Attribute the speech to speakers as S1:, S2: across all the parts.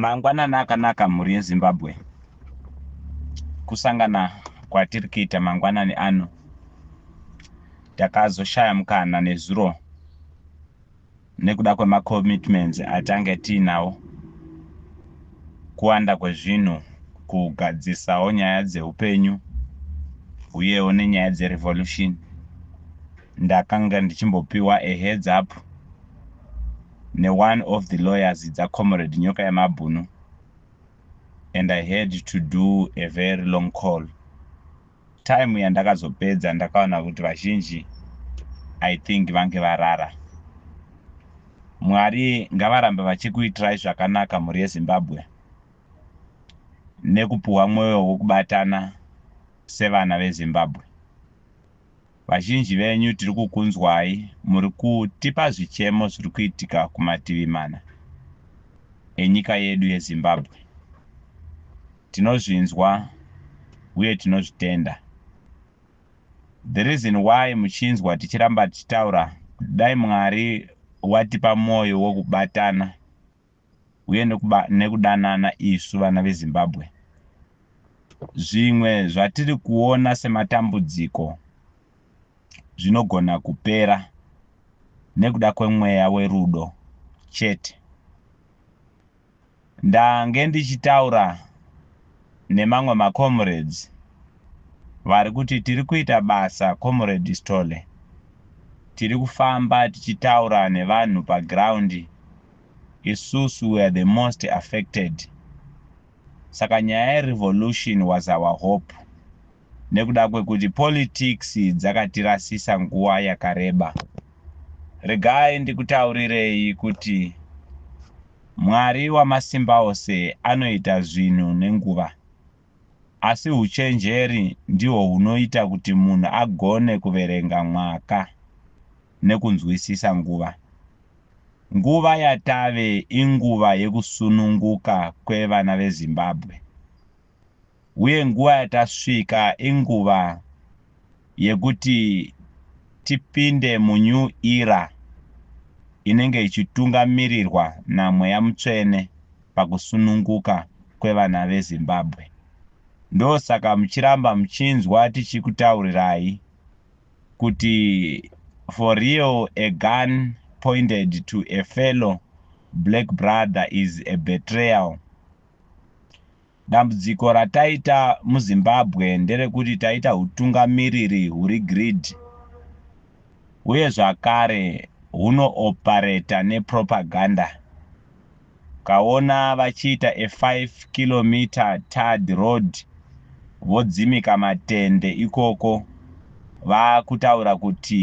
S1: Mangwanani akanaka mhuri yeZimbabwe. Kusangana kwatiri kuita mangwanani ano takazoshaya mukana nezuro nekuda kwemacommitments atange tiinawo kuwanda kwezvinhu kugadzisawo nyaya dzeupenyu uyewo nenyaya dzerevolution ndakanga ndichimbopiwa a heads up neone of the lawyers dzaComrade Nyoka Yemabhunu and I had to do a very long call. Time yandakazopedza ndakaona kuti vazhinji I think vange varara. Mwari ngavarambe vachikuitirai zvakanaka mhuri yeZimbabwe nekupuhwa mwoyo wekubatana sevana veZimbabwe. Vazhinji venyu tiri kukunzwai muri kutipa zvichemo zviri kuitika kumativi mana enyika yedu yeZimbabwe. Tinozvinzwa uye tinozvitenda. The reason why muchinzwa tichiramba tichitaura kuti dai Mwari watipa mwoyo wekubatana uye nekuba, nekudanana isu vana veZimbabwe. Zvimwe zvatiri kuona sematambudziko zvinogona kupera nekuda kwemweya werudo chete. Ndange ndichitaura nemamwe macomrades vari kuti tiri kuita basa comrade Stole, tiri kufamba tichitaura nevanhu paground Isusu were the most affected saka nyaya ye revolution was our hope nekuda kwekuti politics dzakatirasisa nguva yakareba. Regai ndikutaurirei kuti Mwari Wamasimbaose anoita zvinhu nenguva. Asi huchenjeri ndihwo hunoita kuti munhu agone kuverenga mwaka. nekunzwisisa nguva. Nguva yatave inguva yekusununguka kwevana veZimbabwe uye nguva yatasvika inguva yekuti tipinde munew era inenge ichitungamirirwa naMweya Mutsvene pakusununguka kwevana veZimbabwe. Ndosaka muchiramba muchinzwa tichikutaurirai. kuti for real a gun pointed to a fellow black brother is a betrayal. Dambudziko rataita muZimbabwe nderekuti taita hutungamiriri huri greed uye zvakare hunooperator nepropaganda. Kaona vachiita a five kilometer tarred road vodzimika matende ikoko vakutaura kuti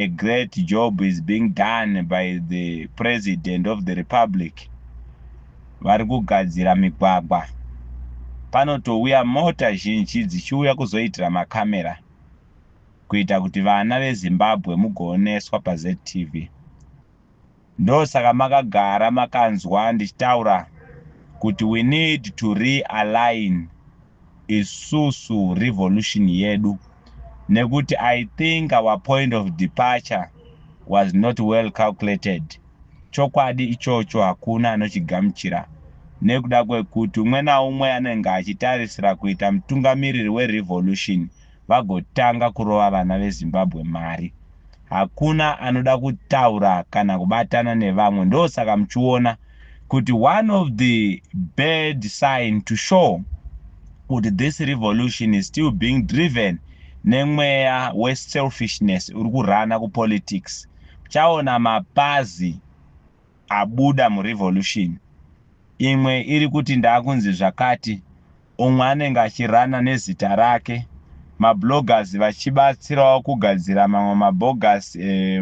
S1: a great job is being done by the President of the Republic vari kugadzira migwagwa. Panotouya mota zhinji dzichiuya kuzoitira ma camera kuita kuti vana veZimbabwe mugooneswa paZTV. Ndosaka makagara makanzwa ndichitaura kuti we need to realign isusu revolution yedu nekuti I think our point of departure was not well calculated. Chokwadi ichocho hakuna anochigamuchira nekuda kwekuti umwe naumwe anenge achitarisira kuita mutungamiriri werevolution vagotanga kurova vana vezimbabwe mari hakuna anoda kutaura kana kubatana nevamwe ndosaka muchiona kuti one of the bad sign to show kuti this revolution is still being driven nemweya weselfishness uri kurana kupolitics uchaona mapazi abuda muRevolution, imwe iri kuti ndakunzi zvakati, umwe anenge achirunner nezita rake, mabloggers vachibatsirawo kugadzira mamwe mabogus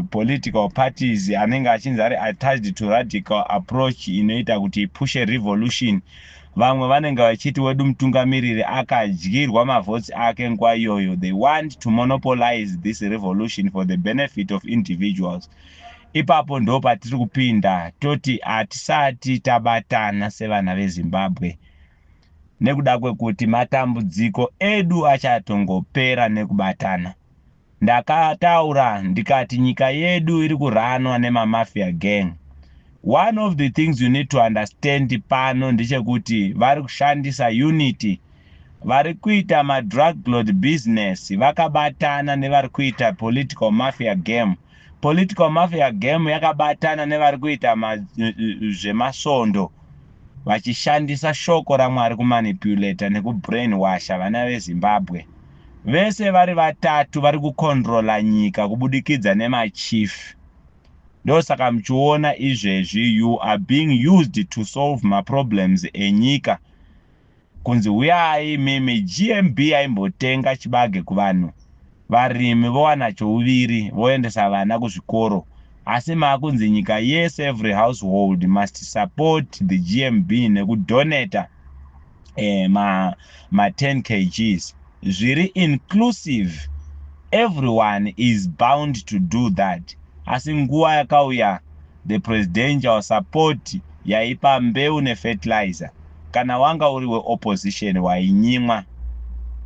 S1: political parties anenge achinzi ari attached to radical approach inoita kuti ipushe revolution. Vamwe vanenge vachiti wedu mutungamiriri akadyirwa mavotes ake nguva iyoyo, they want to monopolize this revolution for the benefit of individuals. Ipapo ndo patiri kupinda toti hatisati tabatana sevana veZimbabwe nekuda kwekuti matambudziko edu achatongopera nekubatana. Ndakataura ndikati nyika yedu iri kuranwa nemamafia gang. One of the things you need to understand pano ndechekuti vari kushandisa unity vari kuita madrug lord business vakabatana nevari kuita political mafia game. political mafia game yakabatana nevari kuita zvemasvondo vachishandisa shoko ramwari kumanipulata nekubrain washa vana vezimbabwe vese vari vatatu vari kucontrola nyika kubudikidza nemachief ndosaka muchiona izvezvi you are being used to solve maproblems enyika kunzi huyai imimi GMB yaimbotenga chibage kuvanhu varimi vowana chouviri voendesa vana kuzvikoro asi makunzi nyika yese every household must support the GMB nekudoneta eh, ma, ma 10 kgs zviri inclusive everyone is bound to do that asi nguva yakauya the presidential support yaipa mbeu nefertilizer kana wanga uri weopposition wainyimwa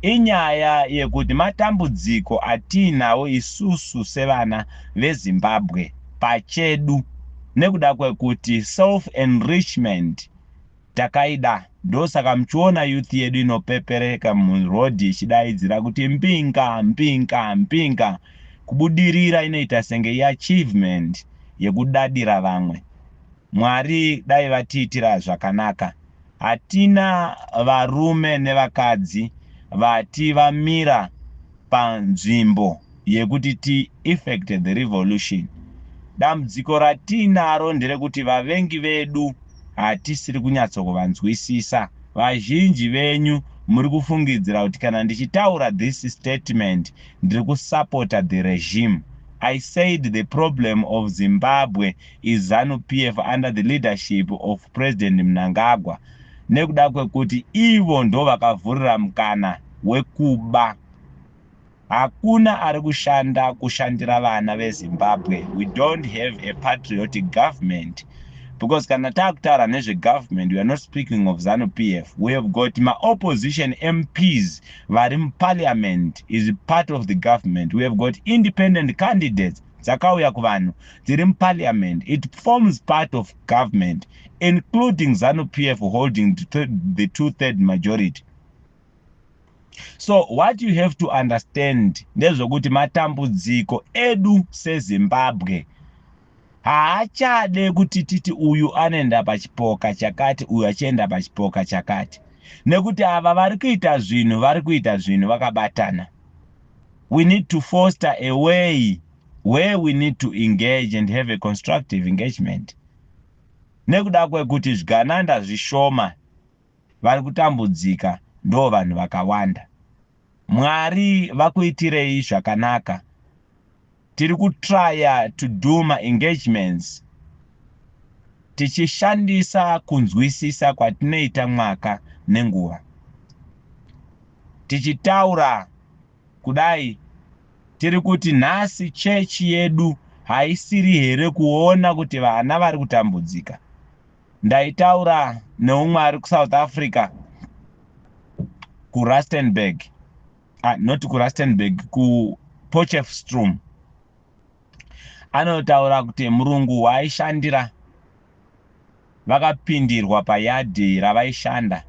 S1: inyaya yekuti matambudziko atiinawo isusu sevana vezimbabwe pachedu nekuda kwekuti self enrichment Takaida ndosaka muchiona youth yedu inopepereka muroad ichidaidzira kuti Mpinga Mpinga Mpinga kubudirira inoita senge iachievement yekudadira vamwe Mwari dai vatiitira zvakanaka hatina varume nevakadzi vati vamira panzvimbo yekuti ti effect the revolution dambudziko ratiinaro nderekuti vavengi vedu hatisiri kunyatsokuvanzwisisa vazhinji venyu muri kufungidzira kuti kana ndichitaura this statement ndiri kusapota the regime I said the problem of Zimbabwe is ZANU PF under the leadership of President Mnangagwa nekuda kwekuti ivo ndovakavhurira mukana wekuba. Hakuna ari kushanda kushandira vana veZimbabwe. We don't have a patriotic government. Because kana takutaura nezvegovernment, we are not speaking of ZANU PF. We have got ma opposition MPs vari muparliament is part of the government. We have got independent candidates dzakauya kuvanhu dziri muparliament it forms part of government including zanu p f holding the two third majority so what you have to understand ndezvekuti matambudziko edu sezimbabwe haachade kuti titi uyu anoenda pachipoka chakati uyu achienda pachipoka chakati nekuti ava vari kuita zvinhu vari kuita zvinhu vakabatana we need to foster a way where we need to engage and have a constructive engagement nekuda kwekuti zvigananda zvishoma vari kutambudzika ndo vanhu vakawanda mwari vakuitirei zvakanaka tiri kutrya to do ma engagements tichishandisa kunzwisisa kwatinoita mwaka nenguva tichitaura kudai tiri kuti nhasi chechi yedu haisiri here kuona kuti vana vari kutambudzika ndaitaura neumwe ari kusouth africa kurustenburg ah, not kurustenburg kupochefstrom anotaura kuti murungu waaishandira vakapindirwa payadhi ravaishanda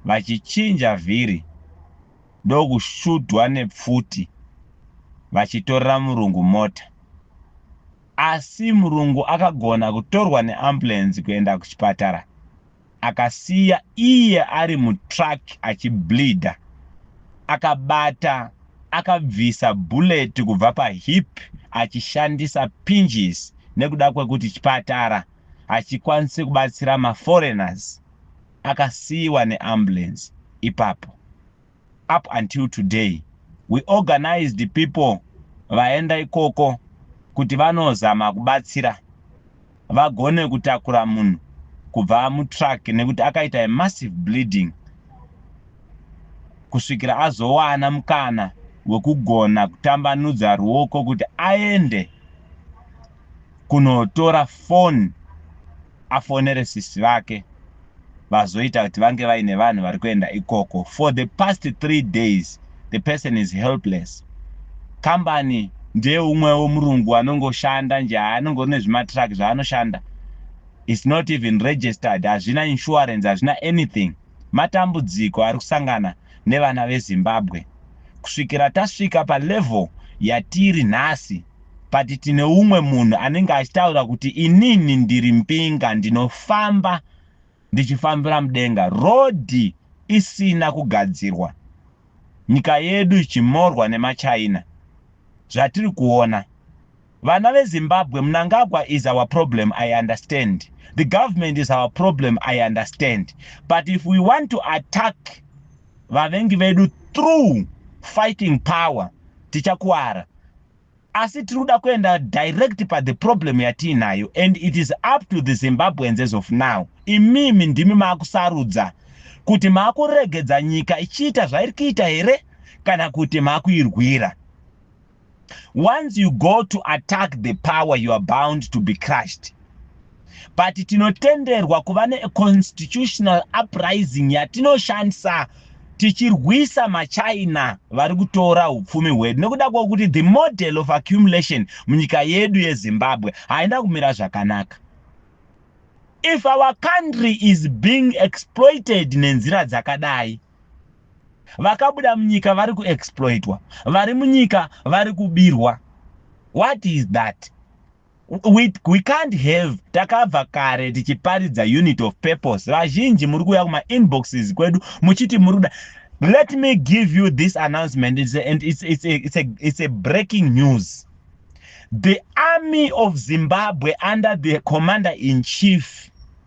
S1: vachichinja vhiri ndokushudhwa nepfuti vachitorera murungu mota Asi murungu akagona kutorwa neambulance kuenda kuchipatara akasiya iye ari mutruck achibleeder. Akabata akabvisa bullet kubva pahip achishandisa pinches nekuda kwekuti chipatara hachikwanise kubatsira maforeigners. Akasiiwa neambulance ipapo. up until today we organized people vaenda ikoko kuti vanozama kubatsira vagone kutakura munhu kubva mutruck nekuti akaita a massive bleeding kusvikira azowana mukana wekugona kutambanudza ruoko kuti aende kunotora phone afonere sisi vake vazoita kuti vange vaine vanhu vari kuenda ikoko for the past three days the person is helpless kambani ndeumwewo murungu anongoshanda nje anongori nezvimatruck zvaanoshanda its not even registered hazvina insurance hazvina anything matambudziko ari kusangana nevana veZimbabwe kusvikira tasvika palevel yatiri nhasi but tine umwe munhu anenge achitaura kuti inini ndiri mbinga ndinofamba ndichifambira mudenga rodhi isina kugadzirwa nyika yedu ichimorwa nemachina zvatiri kuona Vana ve Zimbabwe Mnangagwa is our problem I understand the government is our problem I understand but if we want to attack vavengi vedu through fighting power tichakuwara asi tiri kuda kuenda direct pa the problem yatiinayo and it is up to the Zimbabweans as of now imimi ndimi maakusarudza kuti maakuregedza nyika ichiita zvairi kuita here kana kuti maakuirwira once you go to attack the power you are bound to be crushed but tinotenderwa kuva neconstitutional uprising yatinoshandisa tichirwisa machina vari kutora upfumi hwedu nekuda kwokuti the model of accumulation munyika yedu yezimbabwe haina kumira zvakanaka if our country is being exploited nenzira dzakadai vakabuda munyika vari kuexploitwa vari munyika vari kubirwa what is that we, we can't have takabva kare tichiparidza unit of purpose vazhinji muri kuuya kumainboxes kwedu muchiti muri kuda let me give you this announcement it's a, and it's, it's, a, it's, a, it's a breaking news the army of zimbabwe under the commander in chief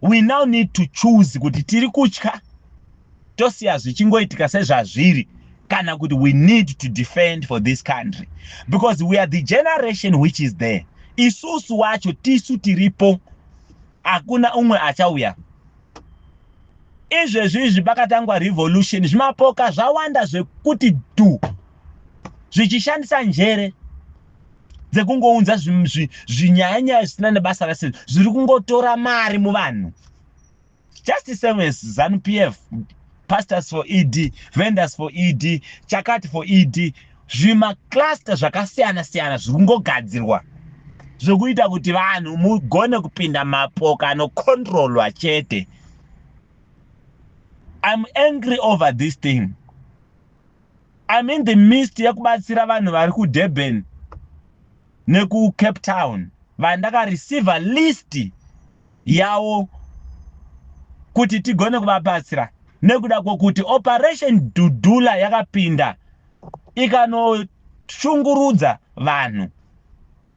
S1: we now need to choose kuti tiri kutya tosiya zvichingoitika sezvazviri kana kuti we need to defend for this country because we are the generation which is there isusu wacho tisu tiripo hakuna umwe achauya izvezvi izvi pakatangwa revolution zvimapoka zvawanda zvekuti dhu zvichishandisa njere dzekungounza zvinyaya nyaya zvisina nebasa rese zviri kungotora mari muvanhu just the same as zanu p f pastors for ed vendors for ed chakati for ed zvimacluster zvakasiyana siyana zviri kungogadzirwa zvekuita kuti vanhu mugone kupinda mapoka anocontrolwa chete iam angry over this thing I'm in the midst yekubatsira vanhu vari kuDurban nekuCape Town vandakareceiver list yawo kuti tigone kuvabatsira nekuda kwokuti operation dudula yakapinda ikanoshungurudza vanhu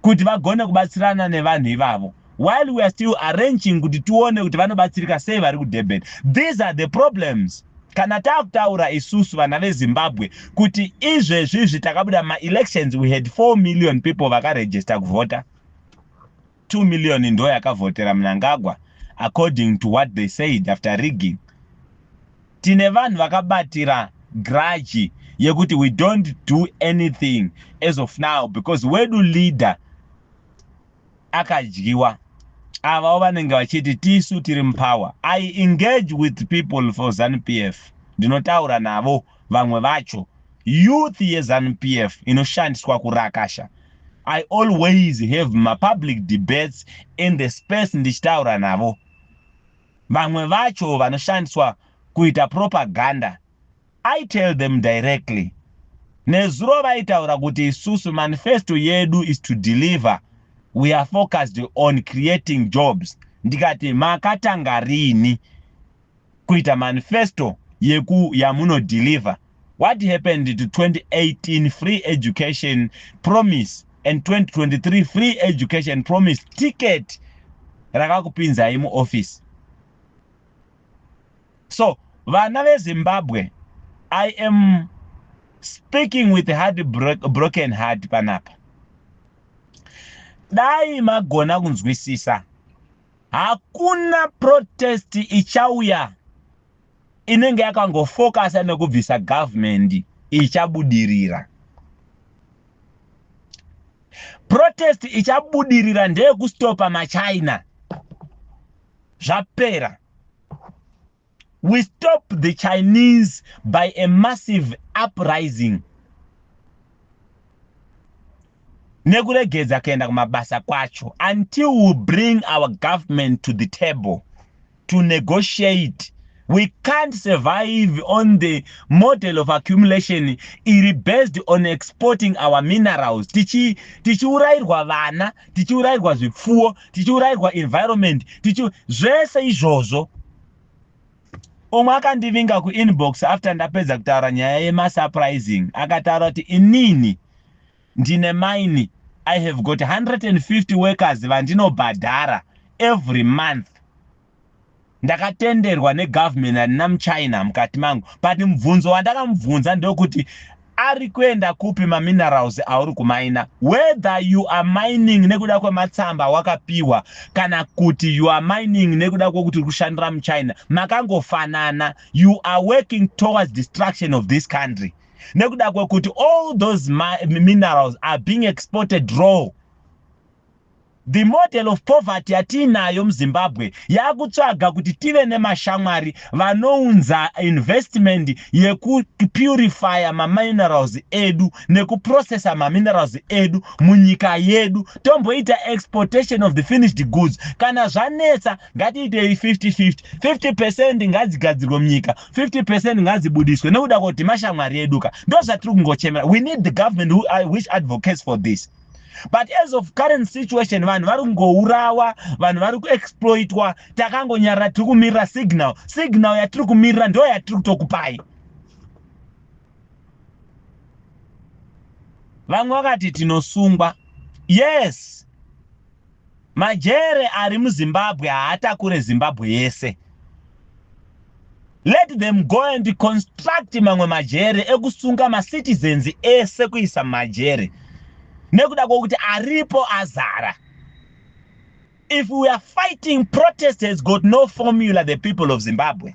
S1: kuti vagone kubatsirana nevanhu ivavo while we are still arranging kuti tione kuti vanobatsirika sei vari kudurban these are the problems kana taakutaura isusu vana vezimbabwe kuti izvezvizvi takabuda maelections we had 4 million people vakaregister kuvhota 2 million ndo yakavhotera mnangagwa according to what they said after rigging Tine vanhu vakabatira grudge yekuti we don't do anything as of now because wedu leader akadyiwa avawo vanenge vachiti tisu tiri mupower i engage with people for zanup f ndinotaura navo vamwe vacho youth yezanup f inoshandiswa kurakasha i always have mapublic debates in the space ndichitaura navo Vamwe vacho vanoshandiswa kuita propaganda I tell them directly. Nezuro vaitaura kuti isusu manifesto yedu is to deliver we are focused on creating jobs ndikati makatanga rini kuita manifesto yeku yamuno deliver What happened to 2018 free education promise and 2023 free education promise ticket rakakupinzai muoffice so vana vezimbabwe i am speaking with heart broken heart panapa dai magona kunzwisisa hakuna protest ichauya inenge yakangofokasa nekubvisa government ichabudirira protest ichabudirira ndeyekustopa machina zvapera we stop the chinese by a massive uprising nekuregedza kuenda kumabasa kwacho until we bring our government to the table to negotiate we can't survive on the model of accumulation iri based on exporting our minerals tichiurayirwa tichi vana tichiurayirwa zvipfuwo tichiurayirwa environment tichi zvese izvozvo umwe akandivinga kuinbox after ndapedza kutaura nyaya yemasurprising akataura kuti inini Ndine mine, I have got 150 workers vandinobhadhara every month. Ndakatenderwa negovernment handina muchina mukati mangu but mubvunzo wandakamubvunza ndokuti ari kuenda kupi maminerals auri kumaina whether you are mining nekuda kwematsamba wakapiwa kana kuti you are mining nekuda kwekuti uri kushandira muchina makangofanana you are working towards destruction of this country nekuda kwekuti all those minerals are being exported raw the model of poverty yatiinayo muzimbabwe yakutsvaga kuti tive nemashamwari vanounza investment yekupurifya maminerals edu nekuprocessa maminerals edu munyika yedu tomboita exportation of the finished goods kana zvanetsa ngatiitei 50 50 50 percent ngadzigadzirwe munyika 50 percent ngadzibudiswe nekuda kuti mashamwari edu ka ndozvatiri kungochemera we need the government who, uh, which advocates for this but as of current situation vanhu vari kungourawa vanhu vari kuexploitwa takangonyarira tiri kumirira signal signal yatiri kumirira ndo yatiri kutokupai vamwe vakati tinosungwa yes Majere ari muZimbabwe haatakure Zimbabwe yese. Let them go and construct mamwe majere ekusunga macitizens ese kuisa mumajere nekuda kwokuti aripo azara. If we are fighting protest has got no formula the people of Zimbabwe.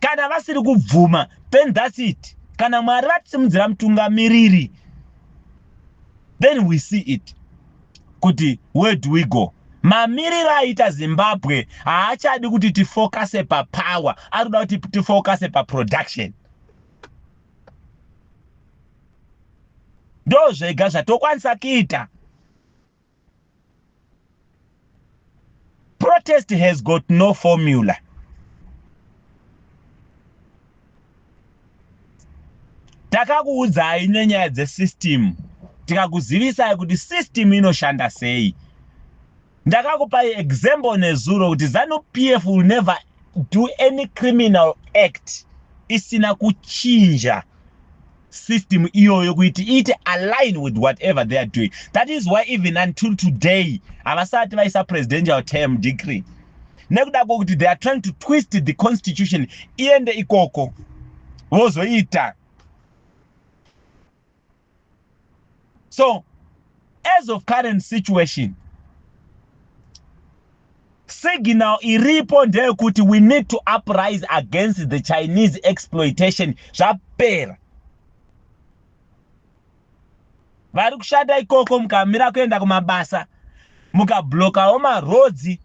S1: kana vasiri kubvuma then thats it kana mwari vatisimudzira mutungamiriri then we see it kuti where do we go mamiriro aita zimbabwe haachadi kuti tifocuse papower ari kuda kuti tifocuse paproduction ndo zvega zvatokwanisa kuita protest has got no formula takakuudzai nenyaya dzesystem tikakuzivisai kuti system inoshanda sei ndakakupai example nezuro kuti zanu pf will never do any criminal act isina kuchinja system iyoyo kuiti iite align with whatever they are doing that is why even until today havasati vaisa presidential term decree nekuda kwokuti they are trying to twist the constitution iende ikoko vozoita so as of current situation signal iripo ndeyekuti we need to uprise against the chinese exploitation zvapera vari kushanda ikoko mukamira kuenda kumabasa mukablokawo marodzi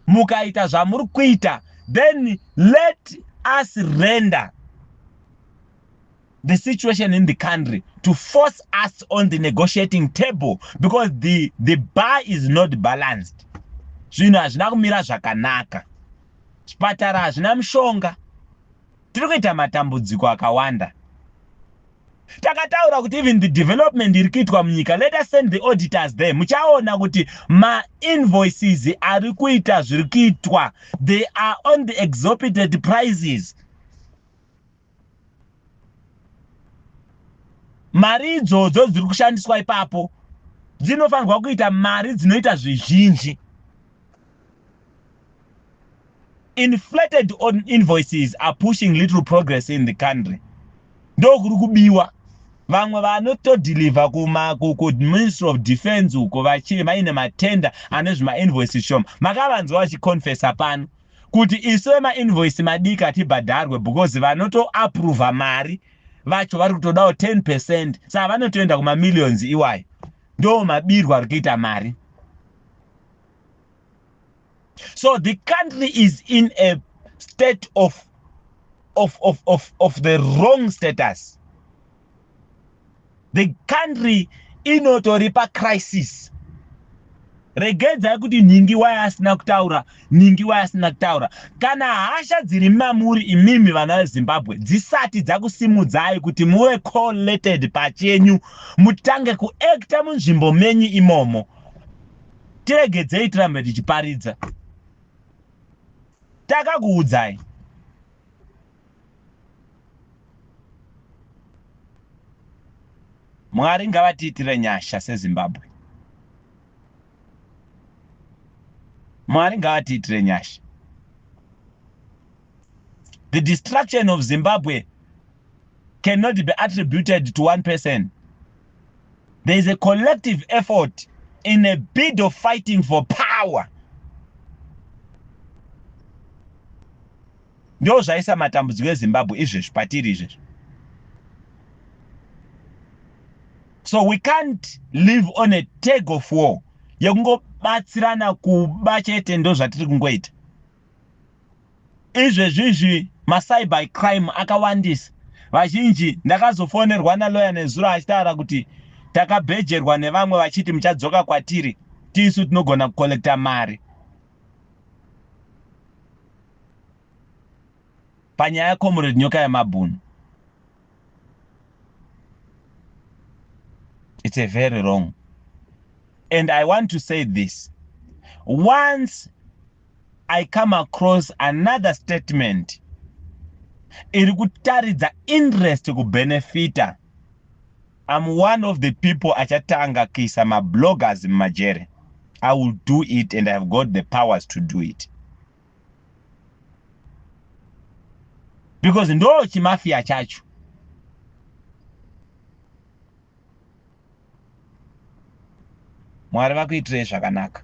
S1: mukaita zvamuri kuita then let us render the situation in the country to force us on the negotiating table because the, the bar is not balanced zvinhu hazvina kumira zvakanaka zvipatara hazvina mushonga tiri kuita matambudziko akawanda takataura kuti even the development iri kuitwa munyika let us send the auditors there muchaona kuti mainvoices ari kuita zviri kuitwa they are on the exopited prices mari idzodzo dziri kushandiswa ipapo dzinofanirwa kuita mari dzinoita zvizhinji inflated on invoices are pushing little progress in the country ndokuri kubiwa vamwe vanotodhilivha kuministry of defense uko vaine matenda ane zvimainvoices shoma makavanzwa vachiconfesa pano kuti isu vemainvoice madiki hatibhadharwe because vanotoaprova mari vacho vari kutodawo 10 percent saa vanotoenda kumamillions iwayo ndo mabirwa ari kuita mari so the country is in a state of, of, of, of, of the wrong status the country inotori pacrisis regedzai kuti nhingi waye asina kutaura nhingi waye asina kutaura kana hasha dziri mamuri imimi vana vezimbabwe dzisati dzakusimudzai kuti muve collated pachenyu mutange kuacta munzvimbo menyu imomo tiregedzei tirambe tichiparidza takakuudzai mwari ngavatiitire nyasha sezimbabwe mwari ngavatiitire nyasha the destruction of zimbabwe cannot be attributed to one person there is a collective effort in a bid of fighting for power Ndoo zvaisa matambudziko eZimbabwe izvezvi patiri izvezvi. So we can't live on a tag of war yekungobatsirana kuba chete ndo zvatiri kungoita izvezvi izvi macyber crime akawandisa vazhinji ndakazofonerwa naloya nezuro achitaura kuti takabhejerwa nevamwe vachiti muchadzoka kwatiri tisu tinogona kukollekta mari panyaya comrade nyoka yamabhunu it's a very wrong and i want to say this once i come across another statement iri kutaridza interest kubenefita I'm one of the people achatanga kuisa ma bloggers mumajere. I will do it and I have got the powers to do it. Because ndo chimafia chacho. Mwari vakuitirei zvakanaka.